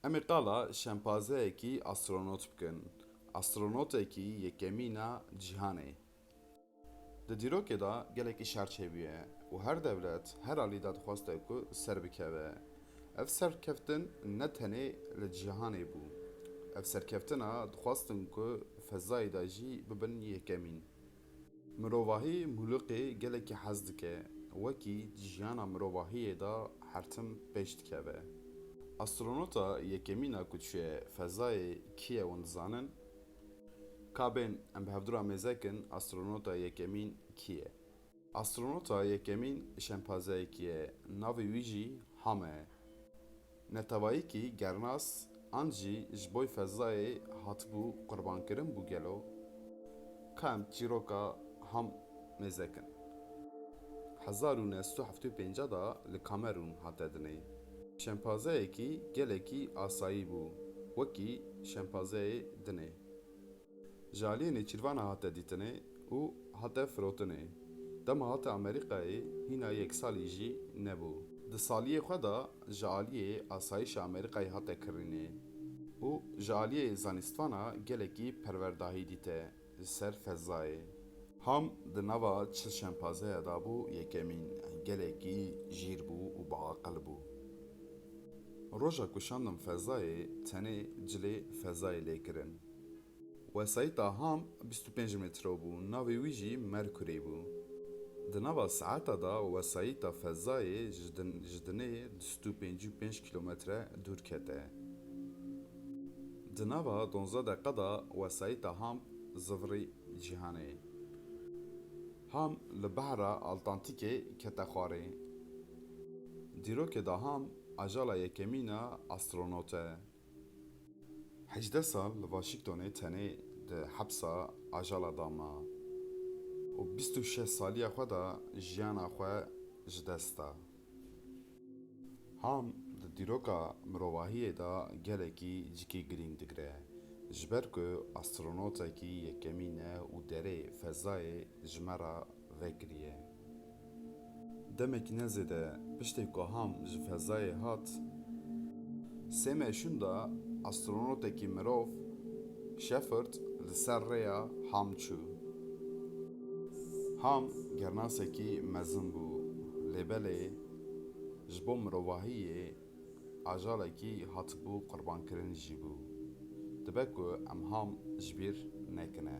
Em ê qala şempazeyekî astronot bikin, astronotekî yekemîna cîhanê. Di dîrokê de gelekî şer çêbûye û her dewlet her alî de dixwaste ku serbikeve. Ev serkeftin ne tenê li cîhanê bû, ev serkeftina dixwastin ku fezayê de jî bibin yekemîn. Mirovahî mûlûqê gelekî hez dike, wekî di jiyana mirovahiyê de hertim pêş dikeve. Astronota yekemîn a ku diçûye fezayê kî ye wan dizanin? Ka bên em bi hevdura mêzek in astronota yekemîn kî ye? Astronota yekemîn şempazeyekî ye, navê wî jî Hame ye. Netewayîkî gernas an jî ji boy fezayê hatibû qurbankirin bû gelo? Ka em çîroka ham mêzek in. Hezar û neh sed û heftê û pênc de li Kamerûn hate dinê. Şempazeyekî gelekî asayî bû wekî şempazeyê dinê. Ji aliyê nêçîrvan a hate dîtinê û hate firotinê. Dema hate Amerîkayê hîna yek salî jî nebû. Di saliyê xwe de ji aliyê asayîşa Amerîkayê hate kirînê û ji aliyê zanîstvana gelekî perwerdahî dîte li ser fezayê. Ham di nava çil şempazeya de bû yekemîn, gelekî jîr bû û biaqil bû. Roja ku şandim fezayê tenê cilê fezayê lê kirin. Wesayîta Ham bîst û pênc metro bû, navê wî jî Mercury bû. Di nava saeta de wesayîta fezayê ji dinê du sed û pêncî û pênc kîlometre dûr kete. Di nava donzdeh deqe de wesayîta Ham zivirî cîhanê. Ham li behra Altantîkê kete xwarê. Dîrokê de Ham ajala yekemîn e astronot e. Hejdeh sal li Waşîngtonê tenê di hepsa Ajala da ma û bîst û şeş saliya xwe da jiyana xwe ji dest da. Ham di dîroka mirovahiyê da gelekî cikê girîng digire, ji ber ku astronotekî yekemîn e û derê fezayê ji me re vekiriye. Demekî ne zêde piştê ku Ham ji fezayê hat, sê meşûn de astronotekî mirov, Shepard, li ser rêya Ham çû. Ham gernasekî mezin bû, lê belê ji bo mirovahiyê ajalekî hatibû qurbankirin jî bû. Dibe ku em Ham ji bîr nekine.